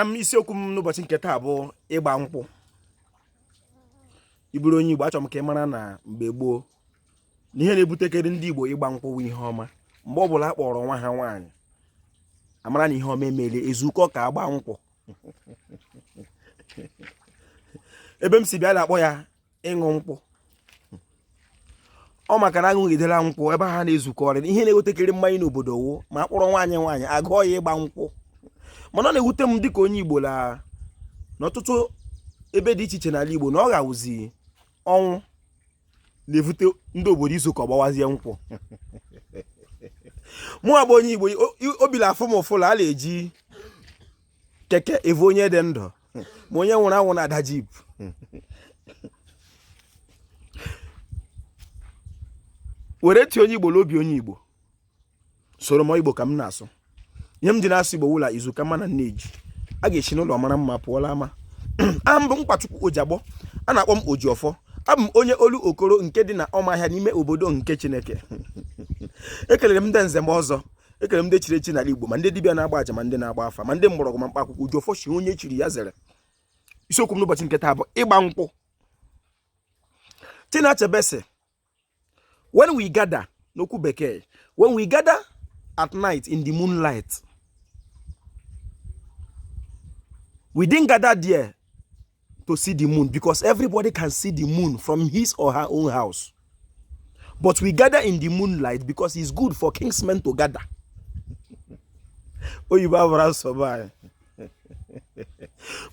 am isiokwu m n'ụbọchị nke taa bụ ịgba nkwụ ị bụrụ onye Igbo achọrọ m ka ị mara na mgbe gboo na ihe na-ebutekere ndị Igbo ịgba nkwụ bụ ihe ọma mgbe ọ bụla a kpọrọ nwa ha nwaanyị a mara na ihe ọma emele e zukọ ka a gbaa nkwụ ebe m si bịa a na-akpọ ya ịṅụ nkwụ ọ maka na aṅụgidela nkwụ ebe ha na-ezukọrị ihe na-ewetekere mmanya n'obodo wụ ma a kpọrọ nwaanyị nwaanyị agụọ ya ịgba nkwụ mana ọ na-ewute m dịka onye igbo na n'ọtụtụ ebe dị iche iche n'ala igbo na ọ ghawụzi ọnwụ na-evute ndị obodo izukọ gbawazie nkwụ mụwa bụ onye igbo obi la-afụ m ụfụ la a na-eji keke evu onye dị ndụ ma onye nwụrụ anwụ na-ada jeep were tie onye igbo n'obi onye igbo soro m igbo ka m na-asụ ihe m ji na-asụ igbo wụ la izu ka mma na nne ji a ga-esi n'ụlọ mara mma pụọ la ama aha m bụ Nkwachukwu ojiagbọ a na-akpọ m oji ọfọ abụ m onye Olokoro nke dị na ọmahịa n'ime obodo nke chineke ekelere m ndị nze ma ọzọ ekelere m ndị chiri echi n'ala Igbo ma ndị dibịa na-agba aja ma ndị na-agba afa ma ndị mgbọrọgwụ ma mkpa akwụkwọ oji ọfọ shị onye chiri ya zere isiokwu m n'ụbọchị nke taa bụ ịgba nkwụ Chinua Achebe sị when we gather n'okwu bekee when we gather at night in the moonlight we didn't gather there to see the moon because everybody can see the moon from his or her own house. But we gather in the moonlight because it's good for kinsmen to gather. oyibo abụrọ asụ be anyị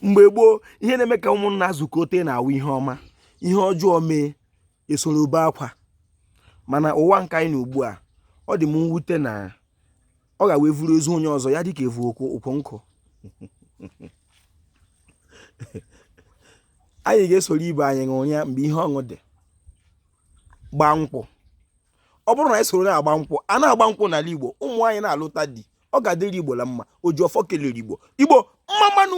mgbe gboo ihe na-eme ka ụmụnna zukọte na-awụ ihe ọma ihe ọjọọ mee e soro bee akwa mana ụwa nke anyị nọ ugbu a ọ dị m mwute na ọ ghawụ e vuru ozu onye ọzọ ya dịka e vu ukwu nkụ anyị ga-esoro ibe anyị ṅụrịa mgbe ihe ọṅụ dị gbaa nkwụ ọ bụrụ na anyị soro na-agba nkwụ a na-agba nkwụ n'ala Igbo ụmụ anyị na-alụta di ọ ga-adịrị Igbo la mma oji ọfọ kelere Igbo Igbo mma mmanụ